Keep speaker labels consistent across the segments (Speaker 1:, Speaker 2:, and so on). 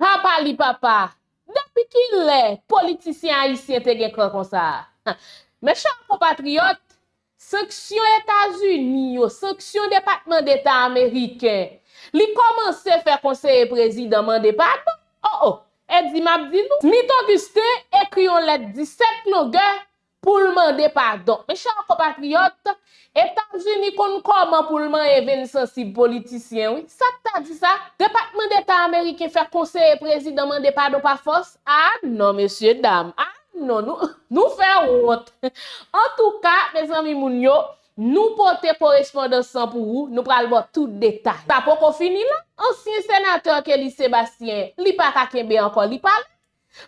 Speaker 1: Pa pali papa! Depi ki lè politisyen ayisyen te gen kran konsa? Mes chers compatriotes, sanksyon Etazini yo, sanksyon Depatman Deta ameriken, li kòmanse fè konseye prezidan mande padon? O o! Eddy m ap di nou. Smith Augustin ekri yon lèt 17 longè pou l mande padon. Mes chers compatriotes, Etazini konn kòman pou l manyen venn sansib politisyen wi. Sa k ta di sa? Depatman Deta ameriken fè konseye prezidan mande padon pa fòs? Ah non mesye dam, ah non nou nou fè wont. Antouka, mezanmi moun yo, nou pote korespondans lan pou ou, nou pral ba w tout detay. Sa poko fini la, ansyen senatè Kelly Sébastien, li pa ka kenbe ankò li pale,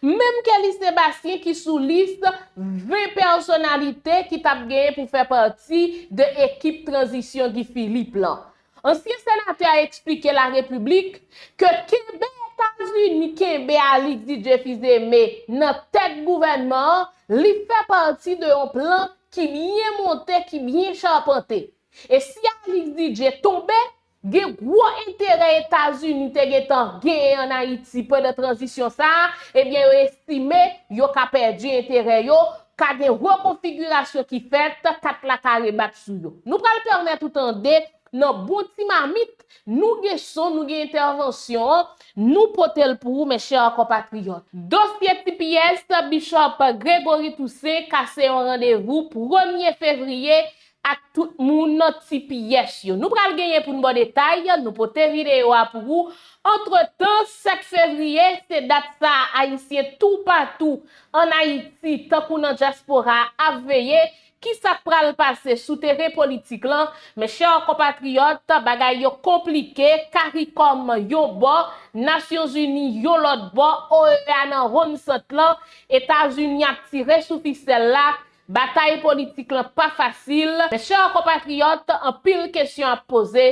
Speaker 1: Menm Kelly Sebastien ki sou lis 20 pèsonalite ki tap genyen pou fè pati de ekip tranzisyon Guy Philippe lan. Ansyen senatè a eksplike La République ke kenbe Etazini kenbe Alix Didier Fils-Aimé nan tèt gouvènman an, li fè pati de yon plan ki byen monte, ki byen chapante. E si Alix Didier tonbe, Gen gwo enterè Etazini te gen tan genyen an Ayiti pandan tranzisyon sa a, ebyen yo estime yo ka pèdi enterè yo, ka gen rekonfigirasyon ki fèt, kat la ka rebat sou yo. Nou pral pèmèt ou tande nan bon ti mamit, nou gen son, nou gen entèvansyon an, nou pote l pou ou mes chers compatriotes. Dosye tps Bishop Gregory Toussaint kase yon randevou premye fevriye ak tout moun nan ti pyès yo. Nou pral genyen pou n ba w detay, nou pote videyo a pou ou. Antretan, 7 fevriye, se dat sa a Ayisyen toupatou ann Ayiti tankou nan dyaspora a ap veye ki sa k pral pase sou teren politik lan. Men chè konpatriyòt, bagay yo konplike, caricom yon bò, Nasyonzini yon lòt bò, OEA nan wonn sant lan, Etazini ap tire sou fisèl la, Batay politik lan pa fasil, mes chers compatriotes, anpil kesyon ap poze,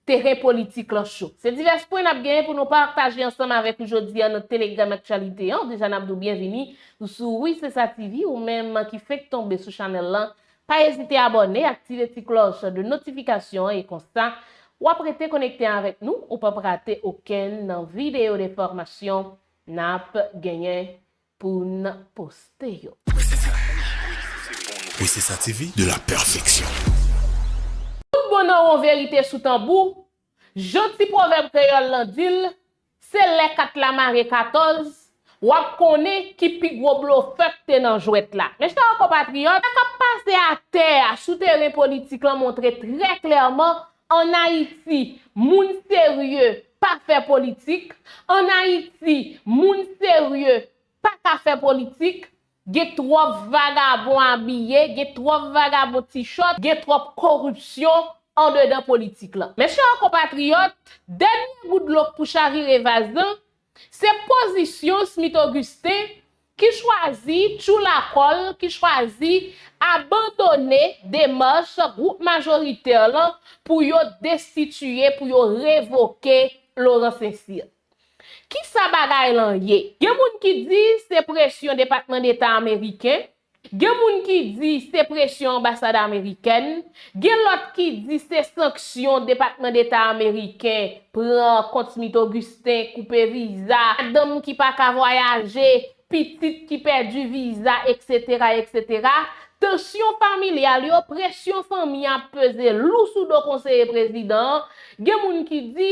Speaker 1: teren politik lan cho. Se divès pwen n ap genyen pou nou pataje ansanm avèk ou jodi an nan Telegram Actualité an. Deja n ap di w byenvini ou sou Wi Se Sa TV, ou menm ki fenk tonbe sou chanèl lan, pa ezite abòne, aktive ti klòch de notifikasyon an e konsa, w ap rete konekte avèk nou, ou p ap rate okenn nan videyo de fòmasyon n ap genyen Pou n poste yo.
Speaker 2: Princesa TV de la perfection.
Speaker 1: Tout bon nan won verite sou tanbou, jan ti pwovèb kreyòl lan di l, se lè kat la mare katòz, w ap konnen ki pi gwo blofè k te nan jwèt la. Mèchtawa konpatriyòt, sa k ap pase atè a sou teren politik lan montre trè klèman An Ayiti, moun serye pa fè politik, an Ayiti, moun serye pa ka fè politik, gen twòp vagabon abiye, gen twòp vagabon ti chòt, gen twòp koripsyon andedan politik lan. Mèsi a konpatriyòt, dènye gout dlo k pou chavire vaz lan, Se pozisyon Smith Augustin ki chwazi tjou lakòl, ki chwazi abandone demach gwoup majoritè lan pou yo destitiye, pou yo revoke Laurent Saint-Cyr. Kisa bagay lan ye? Gen moun ki di se presyon Depatman Deta Ameriken Gen moun ki di se presyon anbasad amerikèn, gen lòt ki di se sanksyon Depatman Deta ameriken pran kont Smith Augustin, koupe viza, madanm ki pa ka vwayaje, pitit ki pèdi viza eksetera eksetera, tansyon familyal yo, presyon fanmi ap peze lou sou do konseye prezidan an, gen moun ki di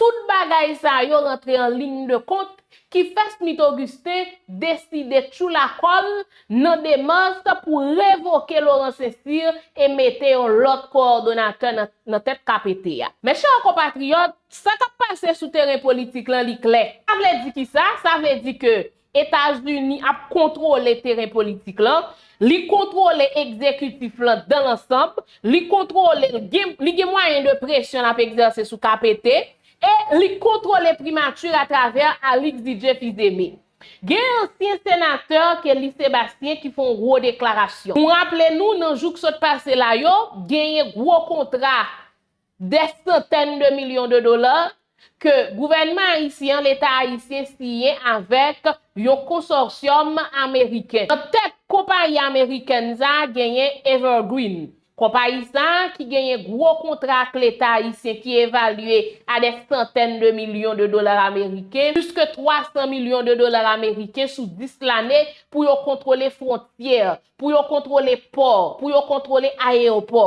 Speaker 1: Tout bagay sa yo rantre an ligne de compte ki fè Smith Augustin deside tjou la kòl nan demans pou revoke Laurent Saint-Cyr e mete yon lòt kowòdonatè nan tèt KPT a. Mes chers compatriotes, sa kap pase sou teren politik lan li klè. Sa vle di kisa? Sa vle di ke Etazini ap kontwole teren politik lan, li kontwole ekzekitif lan dan lansanb, li kontwole l, li gen mwayen de presyon l ap ekzèse sou KPT, e li kontwole Primature a travè Alix Didier Fils-Aimé. Gen ansyen senatè Kelly Sébastien ki fè yon gwo deklarasyon. Nou raple nou nan jou k sot pase la yo, genyen gwo kontra Dè santèn de milyon de dola ke gouvènman ayisyen an, leta ayisyen siyen avèk yon konsòsyòm ameriken. Nan tèt konpayi amerikèn sa genyen Evergreen. Konpayi sa ki genyen gwo kontra ak leta ayisyen ki evalye a dè santèn de milyon de dola ameriken, plis ke 300 milyon de dola ameriken sou 10 lane pou yo kontwole fwontyè, pou yo kontwole pò, pou yo kontwole ayewopò.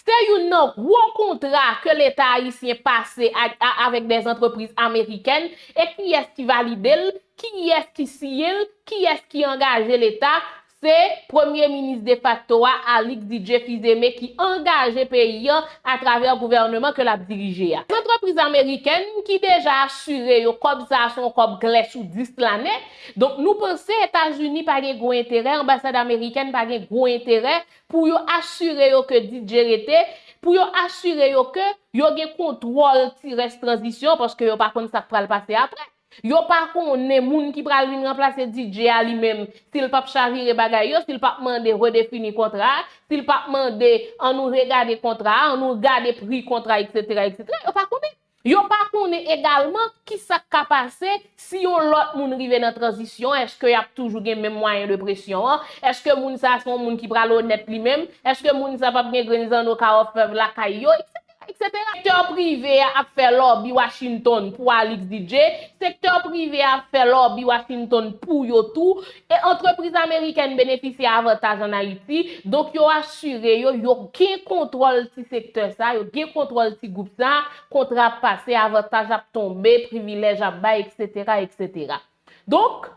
Speaker 1: Se youn nan gwo kontra ke leta ayisyen pase avèk dè antrepriz amerikèn, e kiyès ki valide l, kiyès ki siyen l, kiyès ki angaje leta, se premye minis defakto a Alix Didier Fils-Aimé ki angaje peyi an atravè gouvèneman ke l ap dirije a. Antrepriz amerikèn ki deja asire yo kòb sa a se yon kòb klè sou 10 lane, Donk nou panse Etazini pa gen gwo enterè, anbasad amerikèn pa gen gwo enterè pou yo asire yo ke DJ rete, pou yo asire yo ke yo gen kontwòl ti rès tranzisyon paske yo pa konn sa k pral pase apre. Yo pa konnen moun ki pral vin ranplase DJ a li menm, si l pap chavire bagay yo, si l pap mande redefini kontra a, si l pap mande an nou regade kontra a, an nou gade pri kontra a, eksetera, eksetera, yo pa konnen. Yo pa konnen egalman ki sa k ka pase si yon lòt moun rive nan tranzisyon an, èske y ap toujou gen menm mwayen de presyon an, èske moun sa a se yon moun ki pral onèt li menm, èske moun sa a p ap gen grenn zanno ka òfèv lakay yo, eksetera, eksetera. Sektè prive a ap fè lòbi Washington pou Alix DJ, sektè prive a ap fè lòbi Washington pou yo tou, E antrepriz amerikèn benefisye avantaj an Ayiti, donk yo asire yo, yo gen kontwòl ti sektè sa, yo gen kontwòl ti gwoup sa, kontra ap pase, avantaj ap tonbe, privilèj ap bay, eksetera, eksetera. Donk,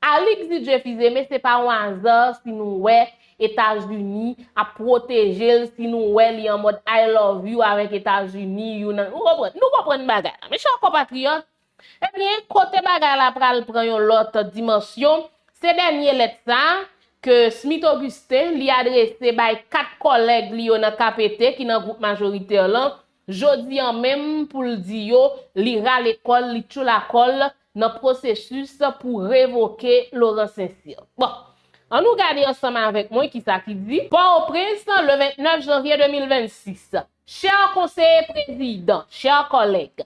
Speaker 1: Alix Didier Fils-Aimé se pa yon aza si nou wè Etazini ap pwoteje l, si nou wè li an mòd I love you avèk Etazini, you nan, nou konprann, nou konprann bagay la. Mechè konpatriyòt, Ebyen, kote bagay la pral pran yon lòt dimansyon, se dènye lèt sa a, ke Smith Augustin, li adrese bay 4 kòlèg li yo nan KPT, ki nan gwoup majoritè lan, jodi an menm, pou l di yo, li rale kò l, li tchoula kò l, nan pwosesis pou revoke Laurent Saint-Cyr. Bon! An nou gade ansanm avèk mwen ki sa ki di. Pò-o-Prens, le 29 janvye 2026. Chè konseye prezidan, chè kòlèg,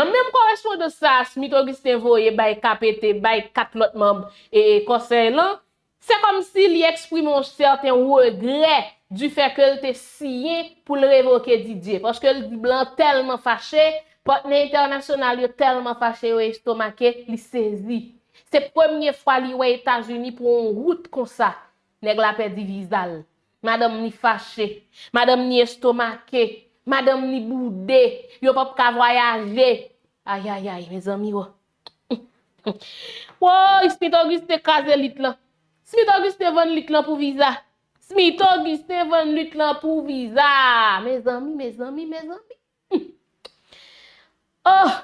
Speaker 1: Nan menm korespondans sa a Smith Augustin voye bay KPT bay 4 lòt manb Kòsèy lan, se kòmsi li eksprime yon sèten regrè di fè ke l te siyen pou l revoke Didier, paske l di blan tèlman fache, patnè entènasyonal yo tèlman fache yo estomake, li sezi. Se premye fwa li wè Etazini pran yon wout konsa. Nèg la pèdi viza l. Madanm ni fache. Madanm ni estomake. Madanm ni boude. Yo pap ka vwayaje. Ayayay, mezanmi o. Woy, Smith Augustin kraze lit lan. Smith Augustin vann lit lan pou viza. Smith Augustin vann lit lan pou viza. Mezanmi, mezanmi, mezanmi. Humm! Ohh!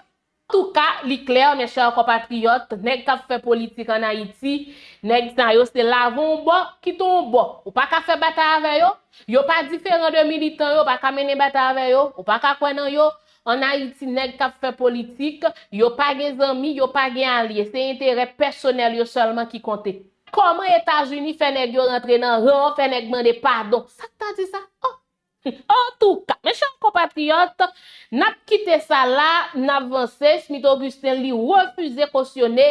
Speaker 1: Antouka, li klè, mes chers compatriotes, nèg kap fè politik an Ayiti, nèg sa yo se lave on bò, kite on bò. Ou pa ka fè batay avè yo, yo pa diferan de militan yo, ou pa ka mennen batay avè yo, ou pa ka kwè nan yo. An Ayiti, nèg kap fè politik, yo pa gen zanmi, yo pa gen alye. Se enterè pèsonèl yo sèlman ki konte. Kòman Etazini fè nèg yo rantre nan ran, fè nèg mande padon? Sak ta di sa? Ohh! Antouka, mes chers compatriotes, n ap kite sa la, n ap vanse, Smith Augustin li refize kosyone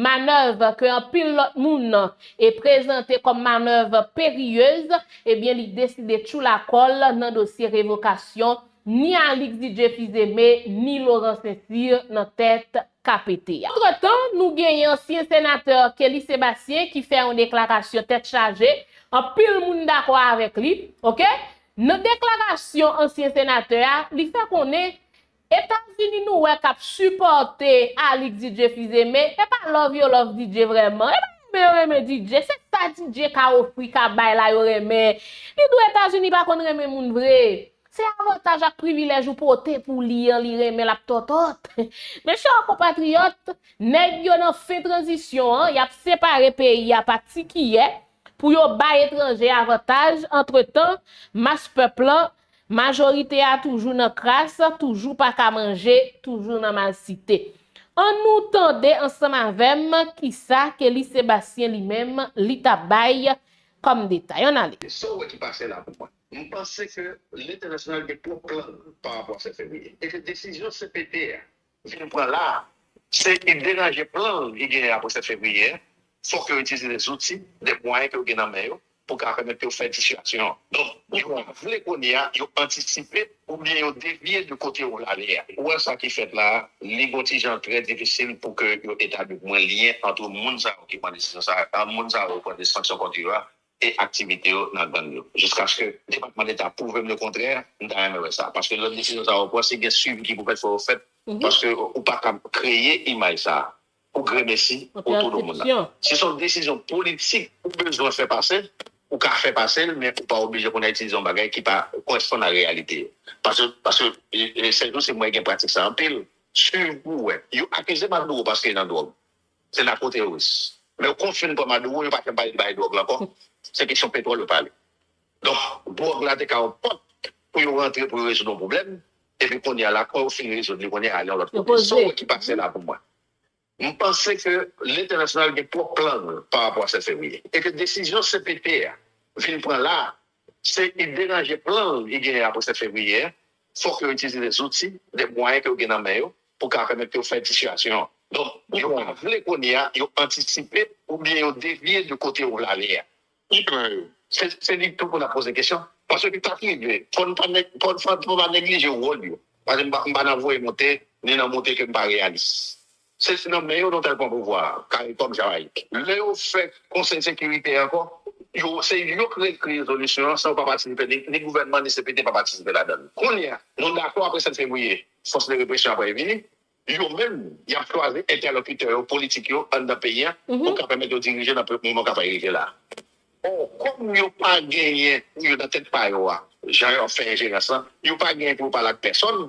Speaker 1: manèv ke anpil lòt moun e prezante kòm manèv periyez, ebyen li deside tchoula kò l nan dosye revokasyon ni Alix Didier Fils-Aimé ni Laurent Saint-Cyr nan tèt KPT a. Antre tan, nou genyen ansyen senatè Kelly Sébastien ki fè yon deklarasyon tèt chaje, anpil moun dakò avèk li, ok. Nan deklarasyon ansyen senatè a, li fè konnen Etazini nou wè k ap sipòte Alix Didier Fils-Aimé, e pa love yo love Didier vrèman, e pa renmen yo renmen Didier, se sa Didier ka ofri, ka bay la yo renmen. Li di w Etazini pa konn renmen moun vre. Se avantaj ak privilèj ou pote pou li an li renmen l ap tòtòt. Mes chers compatriotes, nèg yo nan fen tranzisyon an, y ap separe peyi a pa ti kiyè pou yo bay etranje avantaj, antretan, mas pèp lan, majorite a toujou nan kras, toujou pa ka manje, toujou nan malsite. An nou tande ansanm avè m kisa Kelly Sébastien li menm li ta bay kòm detay. Ann ale. Sa w wè ki pase la
Speaker 3: pou mwen? M panse ke lentènasyonal gen twòp plan pa rapò a 7 fevriye e ke desizyon cpt a vin pran la a se e deranje plan li genyen apre 7 fevriye a. Fòk yo itilize de zouti, de mwayen ke yo gen nan men yo pou ka pèmèt yo fè disyasyon an. Donk, yo pa vle kounye a yo antisipe oubyen yo devye de kote yo vle ale a. Ou wè sa ki fèt la a, li gon ti jan trè difisil pou ke yo etabli pou mwen lyen antre moun sa yo ki pran desizyon sa a, moun sa yo pran de sanksyon kont yo a e aktivite yo nan gang yo. Jiskaske Depatman Deta pwouve m le kontrè, m ta renmen wè sa. Paske lòt desizyon sa yo pran, si gen swivi ki pou fèt, fò yo fèt. Paske ou pa kab kreye imaj sa a pou gremesi otou do moun nan. Si s on desizyon politik ou bezwen fè pase, ou ka fè pase l, men ou pa oblije kounye a itilize yon bagay ki pa koresponn a reyalite yo. Paske, paske, Sèl Jou se m wè gen pratik sa anpil. Swiv pou w wè. Yo akize Maduro paske li nan dwòg. Se nako teworis. Men yo konfin pran Maduro yo pa fè bay li bay dwòg la ankò. Se kesyon petwòl yo pale. Donk dwòg la te ka yon pòt pou yo rantre pou yo rezoud yon pwoblèm. Epi kounya la kò yo fin rezoud li kounya al yon lòt kote. Sa w wè ki pase la pou mwen. M panse ke lentènasyonal gen twòp plan pa rapò a 7 fevriye. E ke desizyon cpt a vin pran la Se y deranje plan l ki genyen a pou 7 fevriye a, fòk yo itilize de zouti, de mwayen ke yo gen nan men yo pou ka pèmèt yo fè disyasyon an. Donk, yo pa vle kounye a, yo antisipe oubyen yo devye de kote yo vle ale a. Ki plan yo? Se li tou pou n ap poze kesyon. Paske sa k rive, fò n pa neglije wòl yo. Paske m pa nan voye monte, ni nan monte ke m pa reyalis. Se nan men yo nou tèl pran pouvwa a, caricom Jamaïque. Lè yo fè konsèy sekirite a ankò, yo se yo k rekri rezolisyon an san yo pa patisipe ni ni gouvènman ni CPT pa patisipe ladann. Kounye a, nou dakò apre 7 fevriye fòs de represyon aprè vini, yo menm y ap chwazi entèlokitè yo politik yo anndan peyi a pou ka pèmèt yo dirije nan moman k apral rive la a. Ò, kòm yo pa genyen pou yo nan tèt pa yo a, jan yo ap fè enjerans lan, yo pa genyen pou yo pale ak pèsòn,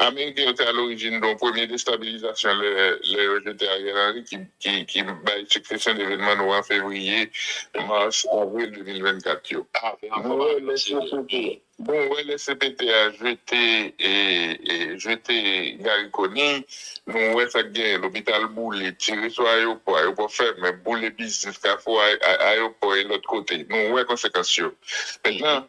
Speaker 4: Ameriken yo te alorijin don premye destabilizasyon lè yo jete Ariel Henry ki bay siksesyon devenman nou an fevriye, mas, avril 2024 yo. Nou wè lè cpt a jete jete Garry Conille, nou wè sa k genyen, lopital boule, tire sou ayewopò, ayewopò fèmen, boule biznis, kafou ayewopò e lòt kote. Nou wè konsekans yo. Mentnan,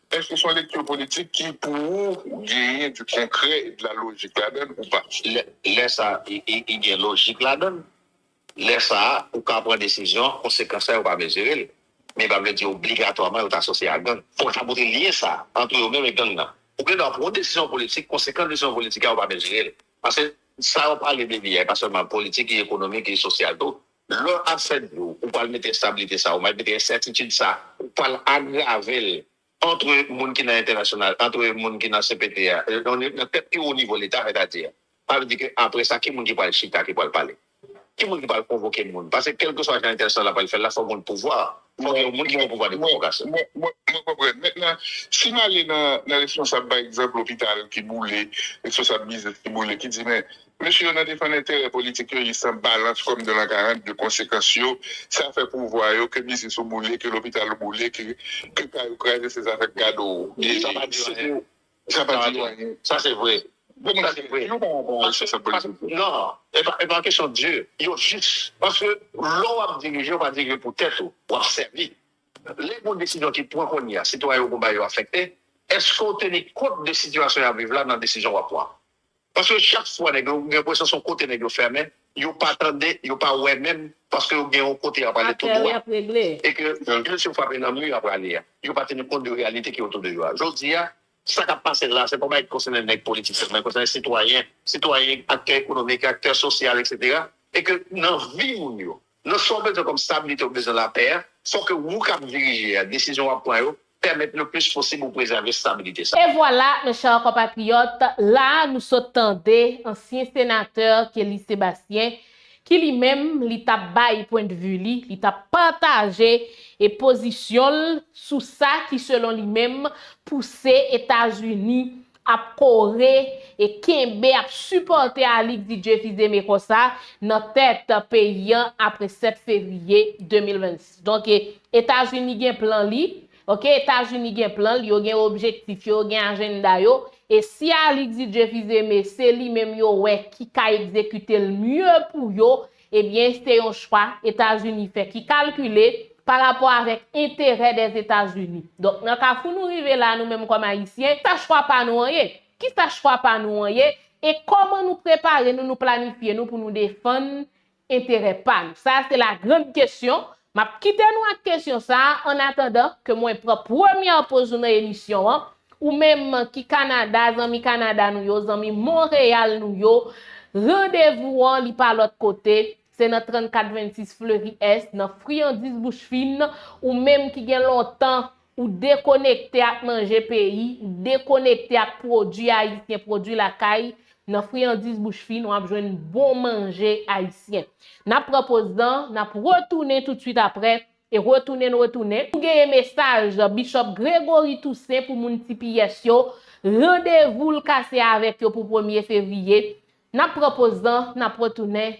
Speaker 4: Èske se yon lekti politik ki pou ou genyen di konkrè e de la lojik ladan l ou pa? Lè sa
Speaker 3: e gen lojik ladan l, lè sa a ou ka pran desizyon konsekans la yo pa mezire l, men pa vle di obligatwaman yo ta asosye a gang. Fòk ta montre lyen sa a antre yo menm e gang nan. Ou gen dwa pran yon desizyon politik, konsekans desizyon politik a yo pa mezire l. Paske sa yo pale de li a e pa sèlman politik, li ekonomik, li sosyal tou, Lè ap fè dlo, ou pral mete enstabilite sa, ou pral mete ensètitid sa, ou pral agrave l antre moun ki nan entènasyonal, antre moun ki nan cpt a, nan tèt pi wo nivo leta, sètadi, sa vle di ke apre sa ki moun ki pral chita, ki pral pale? Ki moun ki pral konvoke moun? Paske kèlkeswa jan entènasyonal la pral fè l la, fòk gen yon pouvwa, fòk gen yon moun ki gen pouvwa de konvokasyon. Mwen konprann.
Speaker 4: Mentnan, si m ale nan responsab pa egzanp lopital ki boule, responsab biznis ki boule, ki di men, Mesye yo nan defann enterè politik yo, yi san balans kòm de lan 42 konsekans yo sa fè pouvwa yo ke biznis ou boule, ke lopital ou boule, ke ke kay ou kraze se zafè k gad ou. Sa pa di anyen. Sa pa di yo anyen. Sa se
Speaker 3: vre. Bon bagay. Sa se vre. Di yo pa wè bon responsab politik yo. Non. E pa e pa kesyon di yo jis. Paske lè w ap dirije, ou pa dirije pou tèt ou. W ap sèvi. Lè gon desizyon ki pran kounye a, sitwayen ou gonba yo afekte, èske ou teni kont de sitiyasyon y ap viv la nan desizyon w ap pran? Paske chak fwa nèg yo gen enpresyon son kote nèg yo fèmen, yo pa tande, yo pa wè menm paske yo gen yon kote y ap ale tou dwa e ke yon vil si yo frape nan mi y ap ale a. Yo pa teni kont de reyalite ki otou de yo a. Jodi a, sa k ap pase la, se pa yon bagay ki konsène nèg politik sèlman, li konsène sitwayen, sitwayen, aktè ekonomik, aktè sosyal, eksetera e ke nan vi moun yo. Nan sa w bezwen kòm stabilite ou bezwen lapè a, fò ke wou kap dirije a, desizyon wap pran yo, pèmèt le plis posib ou prezève stabilite sa. E vwala, mes
Speaker 1: chers compatriotes, la a nou sot tande ansyen senatè Kelly Sébastien ki li menm li tap bay pwen de vue li, li tap pataje e pozisyon l sou sa ki selon li menm pouse Etazini ap kore e kenbe ap sipòte Alix Didier Fils-Aimé konsa nan tèt peyi an apre 7 fevriye 2026. Donk Etazini gen plan li, ok, Etazini gen plan l, yo gen objektif yo, yo gen ajenda yo, e si Alix Didier Fils-Aimé se li menm yo wè ki ka egzekite l mye pou yo, Ebyen se yon chwa Etazini fè ki kalkile pa rapò avèk enterè dè Etazini. Donk nan kafou nou rive la nou menm kòm Ayisyen, sa chwa pa nou an ye? Kisa chwa pa nou an ye e kòman nou prepare nou, nou planifye nou pou nou defann enterè pa nou? Sa a se la grand kesyon M ap kite nou ak kesyon sa a an atandan ke mwen pran premyè poz nou nan emisyon an, ou menm ki Kanada, zanmi Kanada nou yo, zanmi Monreyal nou yo, randevou an li pa lòt kote, se nan 3426 Fleury Est, nan Friandiz Bouch Fin, ou menm ki gen lontan Ou dekonekte ak manje peyi, ou dekonekte ak pwodui ayisyen pwodui lakay, nan friyandiz bouch fin wap jwenn bon manje ayisyen. Nap pran poz nan, nap retounen toutswit aprè, e retounen n retounen. Nou genyen mesaj Bishop Gregory Toussaint pou moun tps yo, randevou l ka se avèk yo pou premye fevriye. Nap pran poz nan, nap retounen.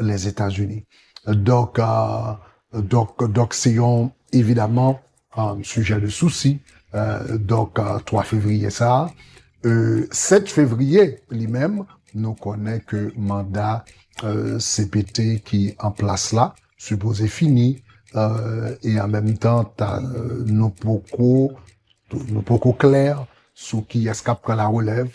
Speaker 5: Lèzetazini. Donk, donk, donk se yon evidaman sijè de sousi. Donk, 3 fevriye sa a. 7 fevriye li menm, nou konnen ke manda cpt ki an plas la sipoze fini e an menm tan ta nou poko nou poko klè sou kiyès k ap pran larelèv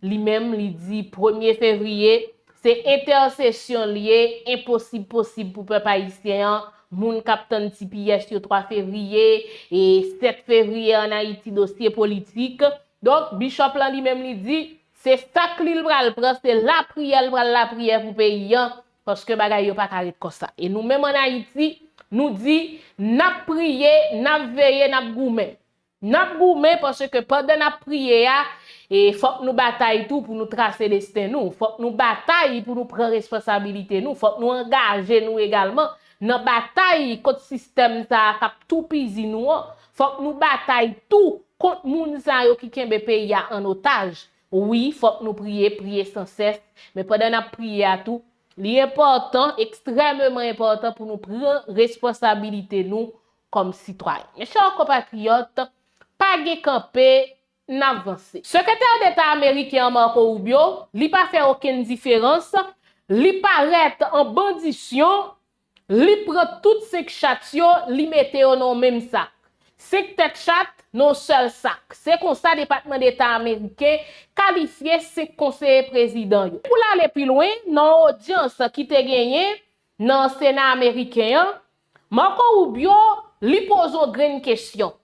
Speaker 1: Li menm li di premye fevriye se entèsesyon l ye enposib posib pou pèp ayisyen an moun k ap tann ti pyès yo 3 fevriye e 7 fevriye ann Ayiti dosye politik donk Bishop lan li menm li di se sak li l pral pran se lapriyè l pral lapriyè pou peyi an paske bagay yo pa ka ret konsa e nou menm ann Ayiti nou di n ap priye n ap veye n ap goumen. Nap goumen paske pandan nap priye a e fòk nou batay tou pou nou trase desten nou, fòk nou batay pou nou pran respansabilite nou, fòk nou angaje nou egalman nan batay kont sistèm sa a kap toupizi nou an, fòk nou batay tou kont moun sa yo ki kenbe peyi a an otaj. Wi, fòk nou priye, priye san sès, men pandan nap priye a tou, li enpòtan, ekstrèmeman enpòtan pou nou pran respansabilite nou kòm sitwayen. Mes chers compatriotes, pa gen kanpe, n ap vanse. Sekretè deta ameriken an Marco Rubio, li pa fè okenn diferans, li parèt an bandisyon, li pran tout 5 chat yo, li mete yo nan yon menm sak. 5 tèt chat nan yon sèl sak. Se konsa Depatman Deta ameriken kalifye 5 konseye prezidan yo. Pou l ale pi lwen, nan yon odyans ki te genyen, Nan sena ameriken an, Marco Rubio li poze yon grenn kesyon,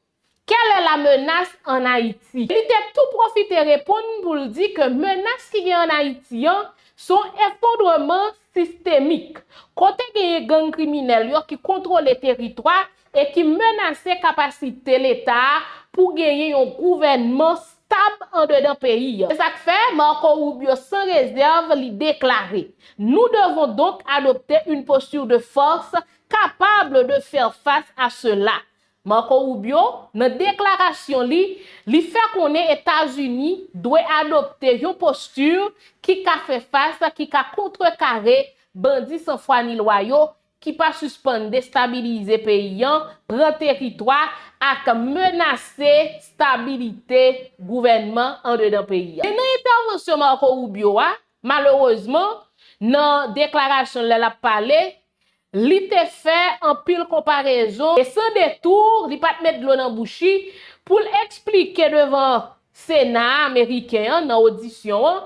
Speaker 1: Quelle est la menace en Haïti? Li te tou pwofite reponn pou l di ke menas ki gen an Ayiti an se yon efondreman sistemik, kote genyen gang kriminèl yo ki kontwole teritwa e ki menase kapasite Leta a pou genyen yon gouvènman stab andedan peyi a. Se sa k fè, Marco Rubio sans réserve li deklare, Nous devons donc adopter une posture de force capable de faire face à cela. Marco Rubio, nan deklarasyon li, li fè konnen Etazini dwe adopte yon posture ki ka fè fas, ki ka kontrekare bandi san fwa ni lwa yo ki pa sispann destabilize peyi an, pran teritwa ak menase stabilite gouvènman andedan peyi a. Men nan entèvansyon Marco Rubio a, malerezman, nan deklarasyon l lè l ap pale, li te fè anpil konparezon e san detour, li pa t met dlo nan bouch li, pou l eksplike devan Sena a Ameriken an nan odisyon an,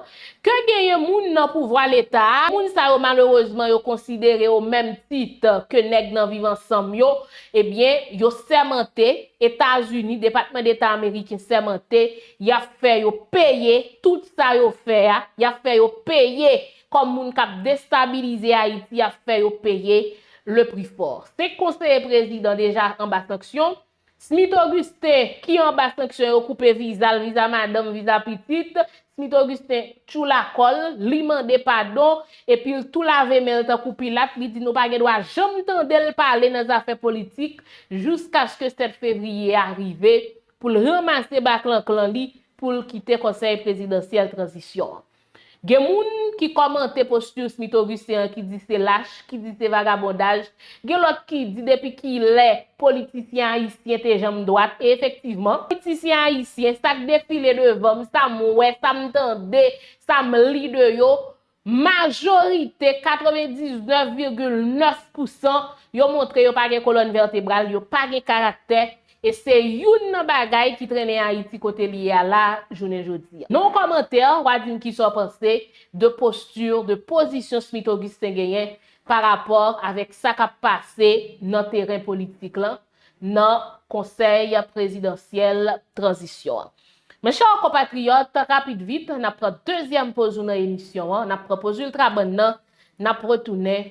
Speaker 1: ke genyen moun nan pouvwa leta a, moun sa yo malerezman yo konsidere o menm tit ke nèg nan viv ansanm yo, ebyen yo sèmante, Etazini, Depatman Deta Ameriken sèmante, y ap fè yo peye tout sa yo fè a, y ap fè yo peye kòm moun k ap destabilize Ayiti, y ap fè yo peye le prix fort. Senk konseye prezidan deja anba sanksyon, Smith Augustin, ki anba sanksyon yo koupe viza l, viza madanm, viza pitit, Smith Augustin tchoula kò l, li mande padon, epi l tou lave men l tankou Pilat, li di nou pa gen dwa janm tande l pale nan zafè politik jouskaske 7 fevriye a rive pou l ranmase baklanklan li pou l kite konsèy prezidansyèl tranzisyon an. Gen moun ki kòmante posture smithovicien an ki di se lach, ki di se vagabondaj, gen lòt ki di depi kilè politisyen ayisyen te janm dwat e efektivman, politisyen ayisyen sa k defile devan m, sa m wè, sa m tande, sa m li de yo, majorite, 99 virgil 9 pousan, yo montre yo pa gen kolòn vètebral, yo pa gen karaktè, E se youn nan bagay ki trennen Ayiti kote li ye a la jounen jodi. Nan yon kòmantè, wa di m kisa w panse de posture, de pozisyon Smith Augustin genyen pa rapò avèk sa k ap pase nan teren politik lan nan Konsèy Prezidansyèl Tranzisyon an. Mes chers compatriotes, rapid vit, n ap pran dezyèm poz nou nan emisyon an, n ap pran poz Ultrabann nan, n ap retounen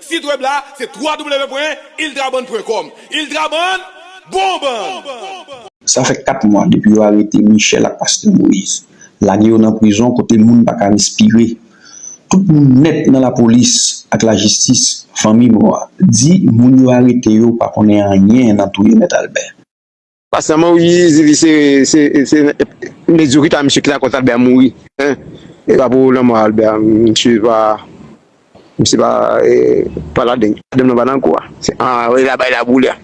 Speaker 6: Sit web la se www pwen iltraband pwen kòm iltraband bon band. Sa fè
Speaker 7: 4 mwa depi yo arete Michel ak Pastè Moïse, lage yo nan prizon kote moun pa ka respire. Tout moun nèt nan lapolis ak lajistis, fanmi mò a, di moun yo arete yo pa konnen anyen nan touye Mèt Albert. Pasta
Speaker 8: man wi zizi se se mediocrite a misye ki ta koz albert mouri hein e pa pou lanmò albert misye pa misye pa pa ladenn madanm nan pa nan kou a se an e la bay la boule a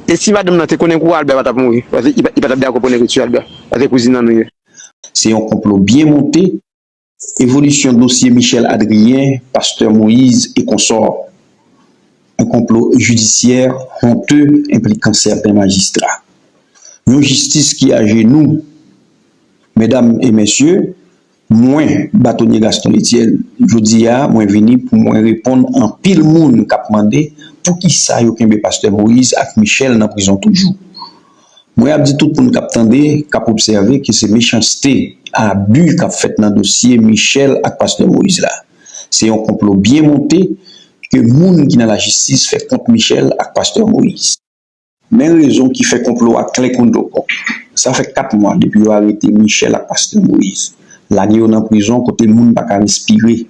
Speaker 8: e si madanm nan te konnen kou a albert patap mouri paske li patap dakò pou nèg yo tiye albert paske kouzin an nou ye. Se yon
Speaker 7: konplo byen monte Evolisyon dosye Michel Adrien, Pasteur Moïse et consorts, yon konplo jidisyè honte enplikan sèten majistra. Yon jistis ki ajenou. Medam e mesye, mwen, Batonye Gaston Etienne, jodi a mwen vini pou mwen reponn anpil moun kap mande poukisa yo kenbe Pasteur Moïse ak Michel nan prizon toujou. Mwen ap di tout moun k ap tande, k ap obsève ke se mechanste, abi k ap fèt nan dosye Michel ak pastè Moïse la. Se yon konplo byen monte ke moun ki nan lajistis fè kont Michel ak pastè Moïse. Men rezon ki fè konplo a klè kon do kòk. Sa fè 4 mwa depi yo arete Michel ak pastè Moïse, lage yo nan prizon kote moun pa ka respire.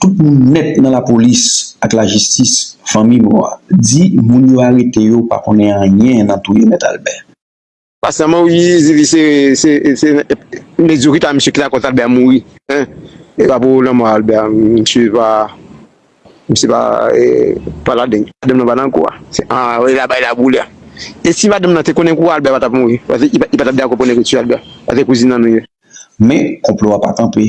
Speaker 7: Tout moun nèt nan lapolis ak lajistis fanmi mò a di moun yo arete yo pa konnen anyen nan touye mèt Albè. Pa sèlman
Speaker 8: wi zizi se se mezokite a misye ki la kòz Albè mouri hein e pa pou lanmò Albè a misye pa misye pa e pa ladenn madanm nan pa nan kou a se an e la bay la boule a e si madanm nan te konnen kou a Albè pa tap mouri paske li pa tap dakò pou nèg yo tiye Albè paske kouzin an nou ye. Men, konplo
Speaker 7: a pa kanpe.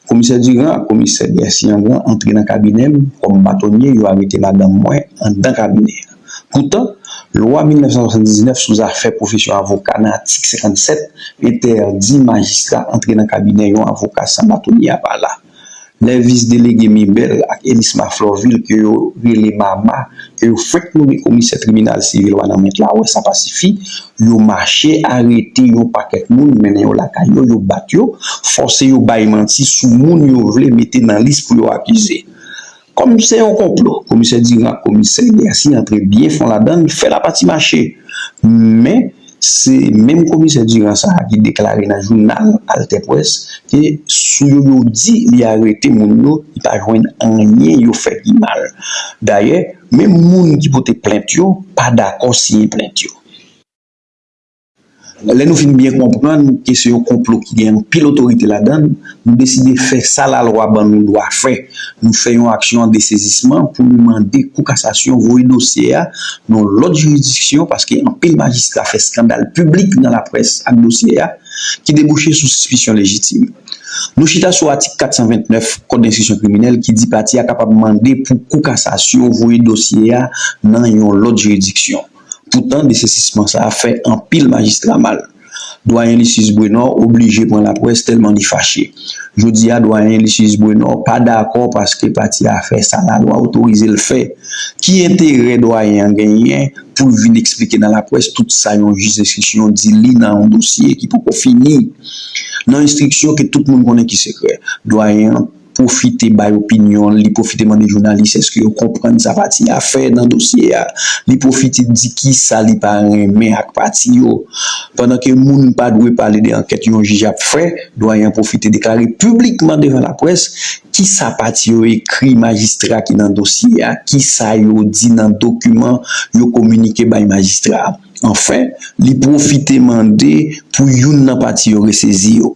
Speaker 7: Komisè Diran ak komisè Bercy-Angan antre nan kabinè m kòm batonye, yo arete madanm mwen anndan kabinè a. Poutan, lwa 1979 sou zafè pwofesyon avoka nan atik 57 entèdi majistra antre nan kabinè yon avoka san batonye a pa la. Lè vis delege Mibel ak Elisma Florvil ke yo rele Mama ke yo fenk nome komisè tribinal sivil Wanament la wè sa pa sifi, yo mache arete yon pakèt moun mennen yo lakay yo, yo bat yo, fòse yo bay manti sou moun yo vle mete nan lis pou yo akize. Kòm se yon konplo, komisè Diran ak komisè Garcia antre byen fon ladan l, fè lapati mache. Men, se menm komisè Diran sa a ki deklare nan jounal AlterPresse ke sou yo yo di li arete moun yo, li pa jwenn anyen yo fè ki mal. Dayè, menm moun ki pote plent yo pa dakò siyen plent yo. Lè nou fin byen konprann ke se yon konplo ki gen anpil otorite ladan l, nou deside fè sa lalwa ban nou dwa fè, nou fè yon aksyon an desezisman pou nou mande Kou Kasasyon voye dosye a nan lòt jiridiksyon paske anpil majistra fè skandal piblik nan laprès ak dosye a ki debouche sou sispisyon lejitim. Nou chita sou atik 429 Kòd Enstriksyon Kriminèl ki di pati a kapab mande pou Kou Kasasyon voye dosye a nan yon lòt jiridiksyon. Poutan desesisman sa fè anpil majistra mal. Dwayen Lysius Brenò oblije pran laprès tèlman li fache. Jodi a dwayen Lysius Brenò pa dakò paske pati a fè sa lalwa otorize l fè. Ki enterè dwayen an genyen pou l vin eksplike nan laprès tout sa yon jij denstriksyon di li nan yon dosye ki poko fini? Nan enstriksyon ke tout moun konnen ki sekrè. Dwayen an. pwofite bay opinyon l, li pwofite mande jounalis èske yo konprann sa pati a fè nan dosye a, li pwofite di kisa li pa renmen ak pati yo. Pandan ke moun pa dwe pale de ankèt yon jij ap fè, Dwayen an pwofite deklare piblikman devan laprès kisa pati yo ekri majistra ki nan dosye a, kisa yo di nan dokiman yo kominike bay majistra a. Anfen, li pwofite mande pou youn nan pati yo resezi yo.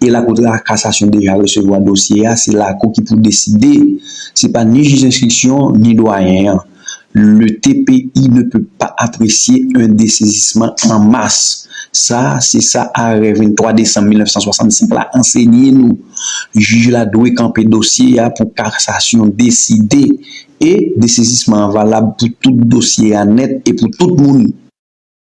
Speaker 7: E Lakou de Kasasyon deja resevwa dosye a, se Lakou ki pou deside. Se pa ni jij enstriksyon, ni dwayen an. Le TPI ne peut pas apprécier un dessaisissement en masse. Sa, se sa arè 23 desanm 1965 la ansenye nou. Jij la dwe kanpe dosye a pou Kasasyon deside. E, desezisman an valab pou tout dosye a nèt e pou tout moun.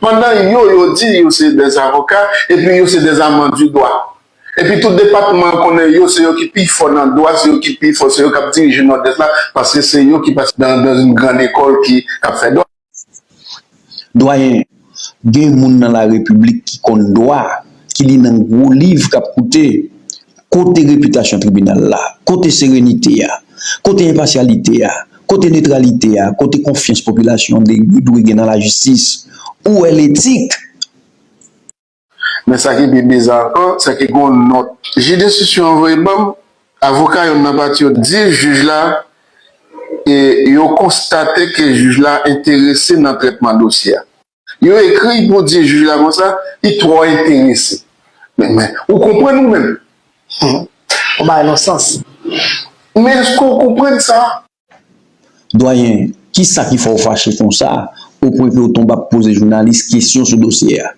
Speaker 9: Pandan yo yo di yo se des avoka epi yo se des amants du dwa. Epi tou depatman an konnen yo se yo ki pi fò nan dwa, se yo ki pi fò, se yo kap dirije Nòdès la paske se yo ki pase dans une grande école ki kap fè dwa.
Speaker 7: Dwayen, gen moun nan la repiblik ki konn dwa, ki li nan gwo liv kap koute. Kote repitasyon tribinal la? Kote serenite a? Kote enpasyalite a? Kote netralite a? Kote konfyans popilasyon an dwe gen nan lajistis? Ou è letik?
Speaker 9: Men sa ki pi biza ankò, se ke gen yon nòt jij denstitisyon an voye ban m, avoka youn nan pati yo di jij la e yo konstate ke jij la enterese nan trètman dosye a. Yo ekri pou di jij la konsa, li twò enterese. Men, men, ou konprann ou menm? Hum,
Speaker 10: ou bay lòt sans. Men
Speaker 9: èske ou konprann sa? Dwayen,
Speaker 7: kisa ki fè ou fache konsa, opwen ke ou tonbe ap poze jounalis kesyon sou dosye a?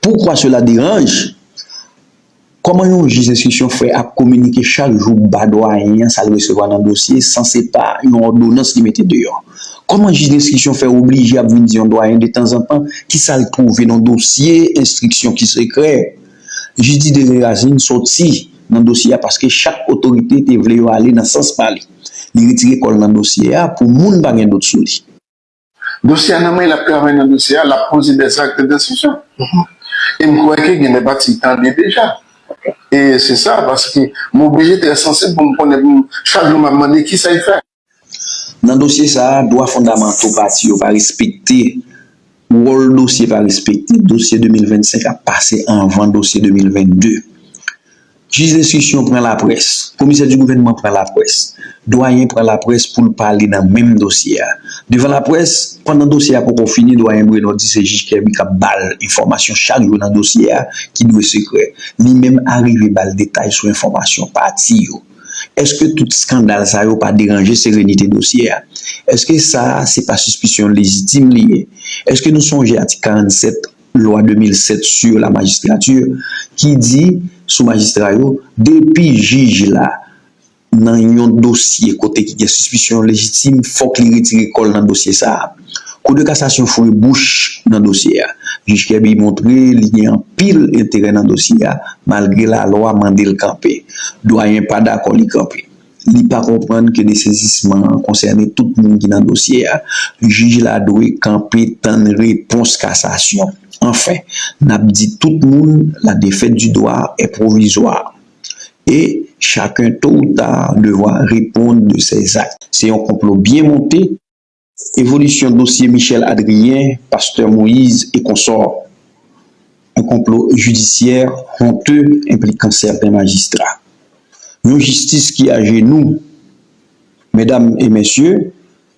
Speaker 7: Pourquoi cela dérange? Kòman yon jij enstriksyon fè ap kominike chak jou ba dwayen an sa l resevwa nan dosye san se pa yon òdonans li mete deyò? Kòman jij enstriksyon fè oblije ap vin di yon dwayen detanzantan ki sa l twouve nan dosye enstriksyon ki sekrè? Jij Didier Lerasin sòti nan dosye a paske chak otorite te vle yo ale nan sans pa li. Li retire kò l nan dosye a pou moun pa gen dout sou li. Dosye a
Speaker 9: nan men l ap travay nan dosye a, l ap poze dèz akte densizyon. E m kwè ke gen de pati l tande deja. E se sa, paske m oblije trè sansib pou m konnen pou m chak jou m ap mande kisa y fè. Nan
Speaker 7: dosye sa a, dwa fondamanto pati yo pa respekte, wòl dosye pa respekte, dosye 2025 ap pase anvan dosye 2022. Jij enstriksyon pran laprès, komisè di gouvènman pran laprès, dwayen pran laprès pou l pale nan menm dosye a. Devan laprès, pandan dosye a poko fini, dwayen Bruno di se jij Kerby k ap ba l enfòmasyon chak jou nan dosye a ki dwe sekrè. Li menm arive ba l detay sou enfòmasyon pati yo. Èske tout skandal sa yo pa deranje serenite dosye a? Èske sa a se pa sispisyon lejitim li ye? Èske nou sonje atik 47 Lwa 2007 sur la magistrature ki di sou majistra yo, depi jij la nan yon dosye kote ki gen sispisyon lejitim, fòk li retire kò l nan dosye sa a. Kou de kasasyon foure bouch nan dosye a. Jij Kèbi montre li gen anpil enterè nan dosye a, malgre lalwa mande l kanpe. Dwayen pa dakò li kanpe. li pa konprann ke desezisman an konsène tout moun ki nan dosye a, jij la dwe kanpe tann repons kasasyon. Anfen, n ap di tout moun la défaite du droit est provisoire et chacun tôt ou tard devra répondre de ses actes. Se yon konplo byen monte. Evolisyon dosye Michel Adrien, Pasteur Moïse et consorts, yon konplo jidisyè honteux enplikan sèten majistra. Yon jistis ki ajenou. Medam et mèsye,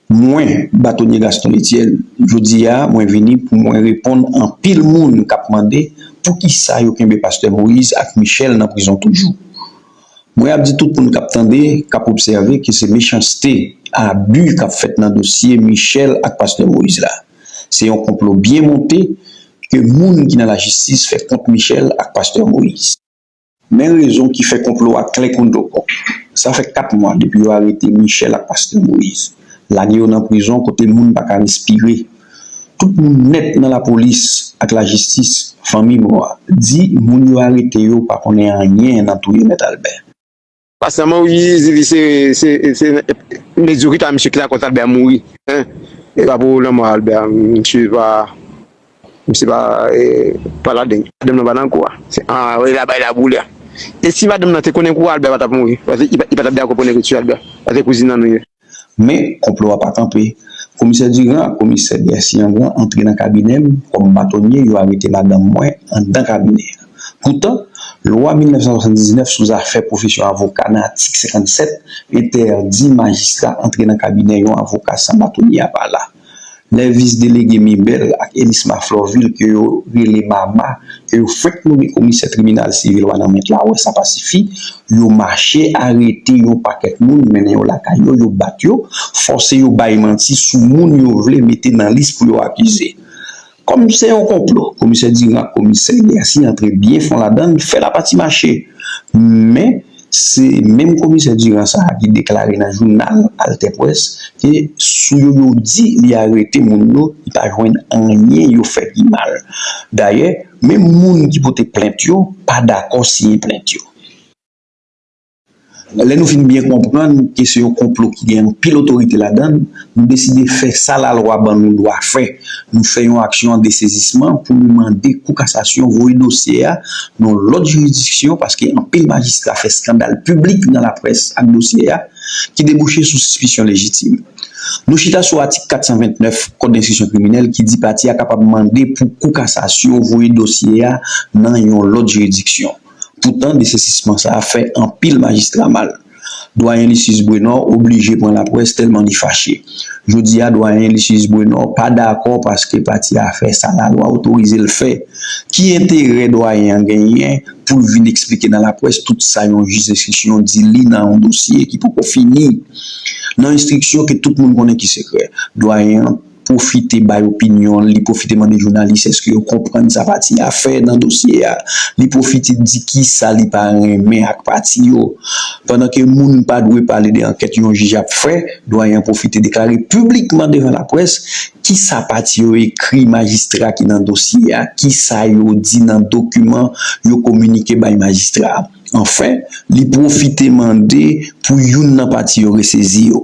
Speaker 7: mwen, Batonye Gaston Etienne, jodi a mwen vini pou mwen reponn anpil moun kap mande poukisa yo kenbe Pasteur Moïse ak Michel nan prizon toujou. Mwen ap di tout moun k ap tande, k ap obsève ke se mechanste, abi k ap fèt nan dosye Michel ak pastè Moïse la. Se yon konplo byen monte ke moun ki nan lajistis fè kont Michel ak pastè Moïse. Men rezon ki fè konplo a klè kon dlo. Sa fè 4 mwa depi yo arete Michel ak pastè Moïse. lage yo nan prizon kote moun pa ka respire. Tout moun nèt nan lapolis ak lajistis, fanmi mò a, di moun yo arete yo pa konnen anyen nan touye Mèt Albè. Pastè
Speaker 8: Maury di li se medyokite a misye ki lakòz Albè mouri. Epa pou lanmò Albè a misye pa. Misye pa palade. Madanm nan pa nan kou a. An wè la bay la boule a. E si madanm nan te konnen kou a Albert pa tap mouri. Paske li pa tap dakò pou nèg tue Albert. Paske kouzin nan nou ye. Men,
Speaker 7: konplo a pa kanpe. Komisè Durand ak komisè Bercy-Anglin antre nan kabinè m kòm batonye yo arete madanm mwen anndan kabinè a. Poutan, lwa 1979 sou zafè pwofesyon avoka nan atik 57 entèdi majistra antre nan kabinè yon avoka san batonye a pa la. Lè vis delege Mibel ak Elisma Florvil ke yo rele Mama ke yo fenk nome komisè tribinal sivil Wanament la wè sa pa sifi, yo mache arete yon pakèt moun mennen yo lakay yo, yo bat yo, fòse yo bay manti sou moun yo vle mete nan lis pou yo akize. Kòm se yon konplo, komisè Diran ak komisè Lyasi antre byen fon ladan l, fè lapati mache. Men, se menm komisè Diran sa a ki deklare nan jounal AlterPresse ke sou yo yo di li arete moun yo, li pa jwenn anyen yo fè ki mal. Dayè, menm moun ki pote plent yo pa dakò siyen plent yo. Lè nou fin byen konprann ke se yon konplo ki gen anpil otorite ladan l, nou deside fè sa lalwa ban nou dwa fè, nou fè yon aksyon an desezisman pou nou mande Kou Kasasyon voye dosye a nan lòt jiridiksyon paske anpil majistra fè skandal piblik nan laprès ak dosye a ki debouche sou sispisyon lejitim. Nou chita sou atik 429 Kòd Enstriksyon Kriminèl ki di pati a kapab mande pou Kou Kasasyon voye dosye a nan yon lòt jiridiksyon. Poutan desesisman sa a fè anpil majistra mal. Dwayen Lysius Brenor oblije pran laprès tèlman li fache. Jodi a dwayen Lysius Brenor pa dakò paske pati a fè sa lalwa otorize l fè. Ki enterè dwayen an genyen pou l vin eksplike nan laprès tout sa yon jij denstriksyon di li nan yon dosye ki poko fini? Nan enstriksyon ke tout moun konnen ki sekrè, dwayen an. pwofite bay opinyon l, li pwofite mande jounalis èske yo konprann sa pati a fè nan dosye a, li pwofite di kisa li pa renmen ak pati yo. Pandan ke moun pa dwe pale de ankèt yon jij ap fè, Dwayen an pwofite deklare piblikman devan laprès kisa pati yo ekri majistra ki nan dosye a, kisa yo di nan dokiman yo kominike bay majistra a. Anfen, li pwofite mande pou youn nan pati yo resezi yo.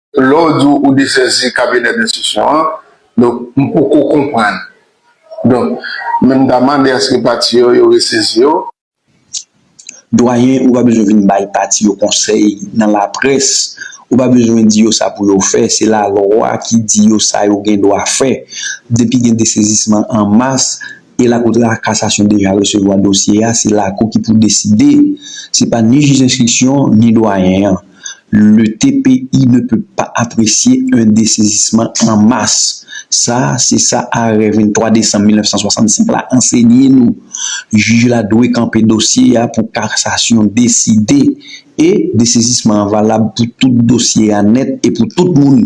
Speaker 9: Lè w di ou desèzi kabinè denstitisyon an, donk m poko konprann. Donk, men m ta mande aske pati yo, yo resezi yo.
Speaker 7: Dwayen, ou pa bezwen vin bay pati yo konsèy nan laprès. Ou pa bezwen di yo sa pou yo fè. Se lalwa ki di yo sa yo gen dwa fè. Depi gen desezisman an mas, e Lakou de la Kasasyon deja resevwa dosye a, se Lakou ki pou deside. Se pa ni jij enstriksyon, ni Dwayen an. Le TPI ne peut pas apprécier un dessaisissement en masse. Sa, se sa arè 23 desanm 1965 la ansenye nou. Jij la dwe kanpe dosye a pou kasasyon deside e desezisman an valab pou tout dosye a nèt e pou tout moun.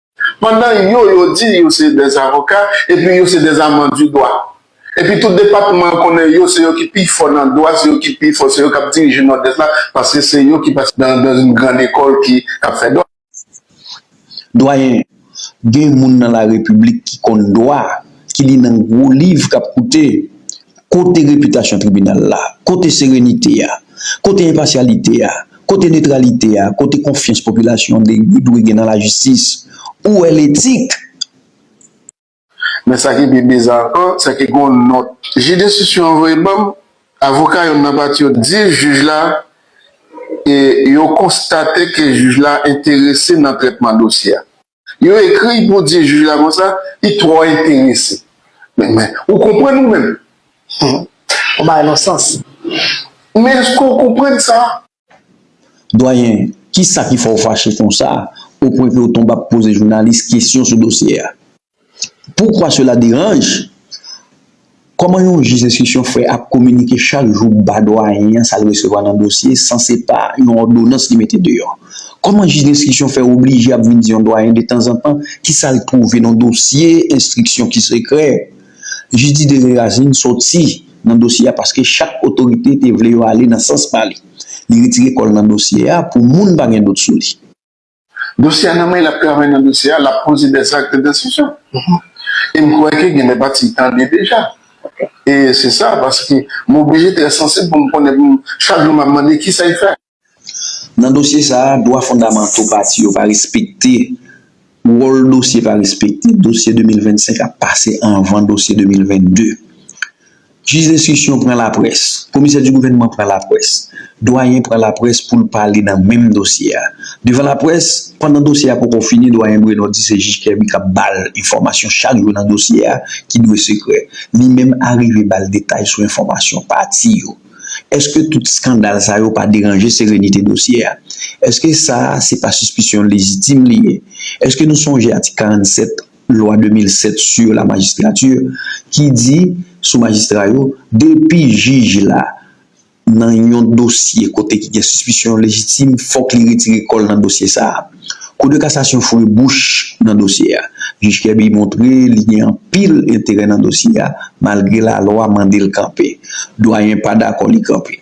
Speaker 9: Pandan yo yo di yo se des avoka epi yo se des amants du dwa. Epi tout depatman an konnen yo se yo ki pi fò nan dwa, se yo ki pi fò, se yo kap dirije Nòdès la paske se yo ki pase dans une grande école ki kap fè dwa.
Speaker 7: Dwayen, gen moun nan la repiblik ki konn dwa, ki li nan gwo liv kap koute. Kote repitasyon tribinal la? Kote serenite a? Kote enpasyalite a? Kote netralite a? Kote konfyans popilasyon dwe gen nan lajistis? Ou wè letik?
Speaker 9: Men sa ki pi biza ankò, se ke gen yon nòt jij denstriksyon an voye ban m, avoka youn nan pati yo di jij la e yo konstate ke jij la enterese nan trètman dosye a. Yo ekri pou di jij la konsa, li twò enterese. Men, ou konprann ou menm?
Speaker 10: Ou bay non sans. Men
Speaker 9: èske ou konprann sa? Dwayen,
Speaker 7: kisa ki fè ou fache konsa, opwen ke ou tonbe ap poze jounalis kesyon sou dosye a? Pourquoi cela dérange? Kòman yon jij enstriksyon fè ap kominike chak jou ba dwayen an sa l resevwa nan dosye san se pa yon òdonans li mete deyò? Kòman jij enstriksyon fè oblije ap vin di yon dwayen detanzantan ki sa l twouve nan dosye enstriksyon ki sekrè? Jij Didier Réracine sòti nan dosye a paske chak otorite te vle yo ale nan sans pa li. Li retire kò l nan dosye a pou moun pa gen dout sou li. Dosye
Speaker 9: a nan men l ap travay nan dosye a, l ap poze dè zak, dè desizyon. E m kwè ke gen dè pati l tande deja. E se sa, paske m oblije trè sansib pou m konnen pou m chak jou m ap mande ki sa y fè. Nan
Speaker 7: dosye sa a, dwa fondamanto pati yo pa respekte, wòl dosye pa respekte, dosye 2025 ap pase anvan dosye 2022. Jij enstriksyon pran laprès, komisè di gouvènman pran laprès, dwayen pran laprès pou l pale nan menm dosye a. Devan laprès, pandan dosye a poko fini, dwayen Bruno di se jij Kerby k ap ba l enfòmasyon chak jou nan dosye a ki dwe sekrè. Li menm arive ba l detay sou enfòmasyon pati yo. Eske tout skandal sa yo pa deranje serenite dosye a? Eske sa a se pa sispisyon lejitim li ye? Eske nou sonje atik 47? Lwa 2007 sur la magistrature ki di sou majistra yo, depi jij la nan yon dosye kote ki gen sispisyon lejitim fòk li retire kò l nan dosye sa a. Kou de kasasyon foure bouch nan dosye a. Jij Kèbi montre li gen anpil enterè nan dosye a malgre lalwa mande l kanpe. Dwayen pa dakò li kanpe.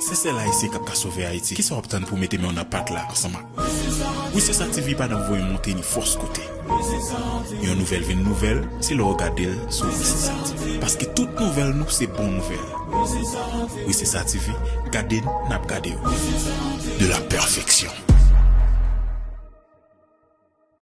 Speaker 2: Si sèl Ayisyen kap ka sove Ayiti kisa wap tann pou w mete men w nan pat la ansanm ak Wi se sa TV pa nan voye monte ni fòs kote Yon nouvèl vin nouvèl se lè w gade l sou Wi se sa TV paske tout nouvèl nou se bon nouvèl Wi se sa TV gade n nap gade w de la pèfeksyon.